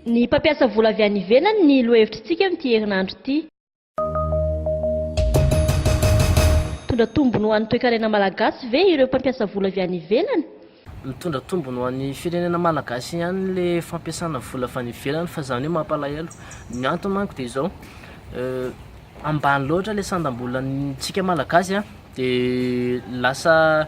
Ny mpampiasa vola avy any ivelany ny lohevitr'tsika amin'ity herinandro ity. Mitondra tombony ho an'ny toekarena malagasy ve ireo mpampiasa vola avy any ivelany? Mitondra tombony ho an'ny firenena malagasy ihany le fampiasana vola avy any ivelany fa zany hoe mampalahelo. Ny antony manko de izao, ambany loatra le sandam-bolantsika malagasy a, de lasa.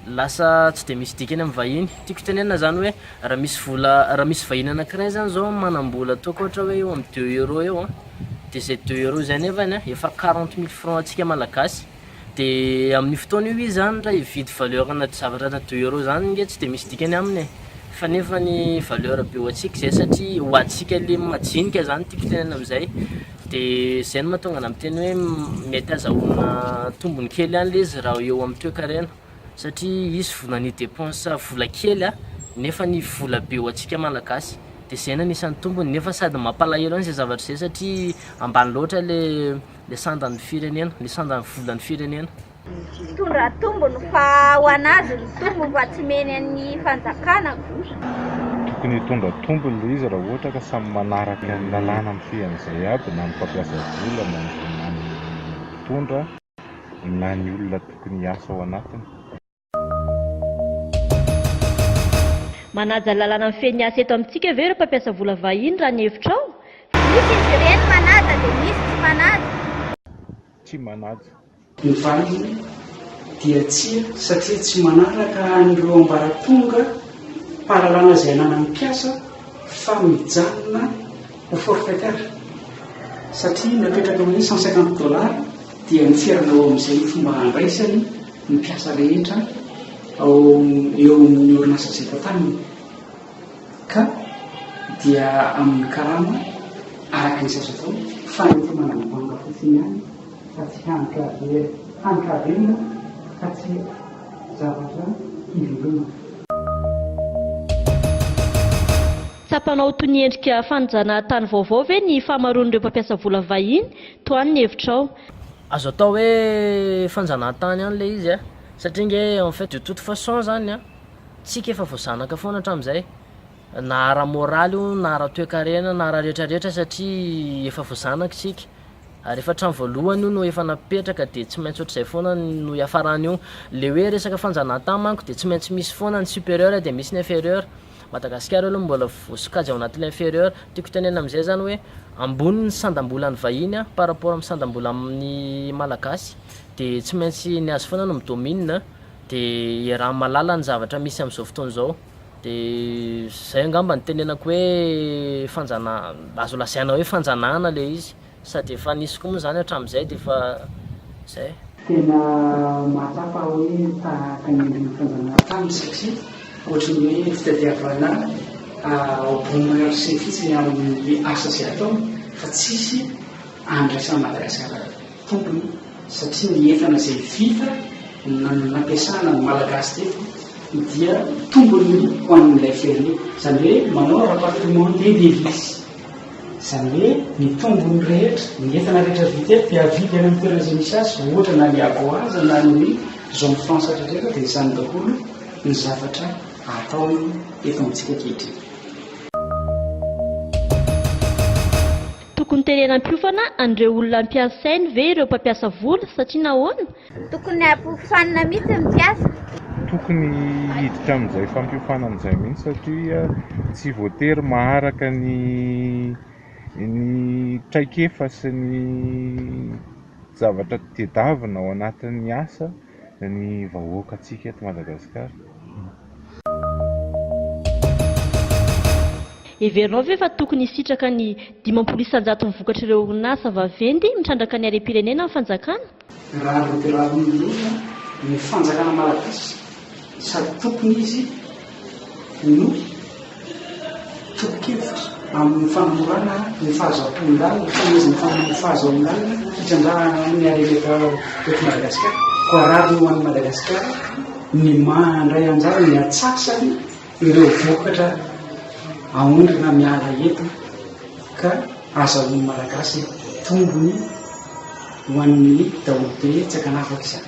lasa tsy dia misy dikany amin'ny vahiny, tiako itenenana zany hoe raha misy vola raha misy vahiny anakiray zany zao manambola ataoko ohatra hoe eo amin'ny deux euro eo an, de zay deux euro zay nefany an efa quarante mille franc antsika malagasy de amin'io fotoana io izy zany raha hividy valeur ana zavatra ana deux euro zany nge tsy dia misy dikany aminy e, fa nefany valeur be ho antsika zay satria ho antsika le majinika zany tiako itenenana amizay. Dia izay no mahatonga anah miteny hoe mety azahoana tombony kely ihany ilay izy raha eo amin'ny toekarena satria hisy vola ny dépense vola kely nefa ny vola be ho antsika malagasy dia izay no anisan'ny tombony nefa sady mampalahelo ihany izay zavatra izay satria ambany loatra ilay ilay sandan'ny firenena, ilay sandan'ny volan'ny firenena. Mpitondra tombony fa ho anazy ny tombony fa tsy meny an'ny fanjakana ko. Tokony hitondra tombony le izy raha ohatra ka samy manaraka ny lalàna mifehy an'izay aby na ny mpampiasa vola na ny na ny mpitondra na ny olona tokony hiasa ao anatiny. Manaja ny lalàna mifehy ny asa eto amintsika ve ireo mpampiasa vola vahiny raha ny hevitrao? Misy izy ireny manaja dia misy tsy manaja. Tsy manaja. Ny valiny dia tsia satria tsy manaraka an'ireo ambaratonga mpahalalana izay ananan'ny mpiasa fa mijanona ho forfaitaire satria napetraka amin'ny cent cinquante dollars dia miferana ao amin'izay ny fomba handraisany ny mpiasa rehetra ao eo amin'ny orinasa izay tantaniny. Ka dia amin'ny karama araka ny zatra atao fa ny efa manam-banga fotsiny ihany fa tsy hany ka very, hany ka very moa ka tsy zavatra hivelomana. Tsapanao ho toy ny endrika fanajana tany vaovao ve ny fahamaroan'ireo mpampiasa vola vahiny? Tohano ny hevitrao. Azo atao hoe fanjanahantany ihany ilay izy satria ange en fait de toute façon izany an! Tsika efa vao zanaka foana hatramin'izay, na ara-moraly io, na ara-toekarena, na ara-retraretra satria efa vao zanaka isika, ary efa trano voalohany io no efa napetraka dia tsy maintsy ohatr'izay foana no hiafarany io. Ilay hoe resaka fanjanahantany manko dia tsy maintsy misy foana ny supérieur dia misy ny inférieur. Madagasikara aloha mbola vao sokajy ao anatin'ny inférieur. Tiako tenenina amin'izay izany hoe ambony ny sandam-bolan'ny vahiny par rapport amin'ny sandam-bolan'ny malagasy dia tsy maintsy ny azy foana no mi-domine. Dia iaraha mahalala ny zavatra misy amin'izao fotoana izao. Dia izay angamba no tenenako hoe fanjanahana, azo lazaina hoe fanjanahana ilay izy. Sady efa nisy koa moa izany hatramin'izay dia efa izay. Tena mahatsapa aho hoe tahaka ny andron'ny fanjanahana taminy satria ohatry ny hoe fitadiavana au bon marché fotsiny amin'ny asa izay ataony fa tsisy andraisan'i Madagasikara tompony satria ny entana izay vita na ny nampiasana ny Malagasy teto dia tombony ho an'ilay firenena. Izany hoe manao rapatriement des devises. Izany hoe ny tombony rehetra, ny entana rehetra vita eto dia avidy any amin'ny toerana izay misy azy, ohatra na ny Agoaz na ny Zone Franche hatretreraka dia izany daholo ny zavatra ataony eto amintsika ankehitriny. Tokony terenam-piofana an'ireo olona ampiasainy ve ireo mpampiasa vola satria nahoana? Tokony hampiofanina mihitsy ny mpiasa. Tokony hiditra amin'izay fampiofanana izay mihitsy satria tsy voatery maharaka ny ny traikefa sy ny zavatra tedavina ao anatin'ny asa ny vahoaka tsika eto Madagascar. Heverinao ve fa tokony hisitraka ny dimampolo isanjaton'ny vokatr'ireo orinasa vaventy mitrandraka ny harem-pirenena ny fanjakana? Rariny dia rariny indrindra ny fanjakana malagasy sady tokony izy ny tolo-kevitra amin'ny fanomorana ny fahazoam-panolanana, fanomezana fanomezana fahazoam-panolanana hitrandrahana amin'ny harena eto eto Madagasikara. Koa rariny ho an'i Madagasikara ny mandray anjara ny atsasany ireo vokatra aondrana miala eto ka azahoan'ny Malagasy tombony ho an'ny daholobe tsy akanafaka izany.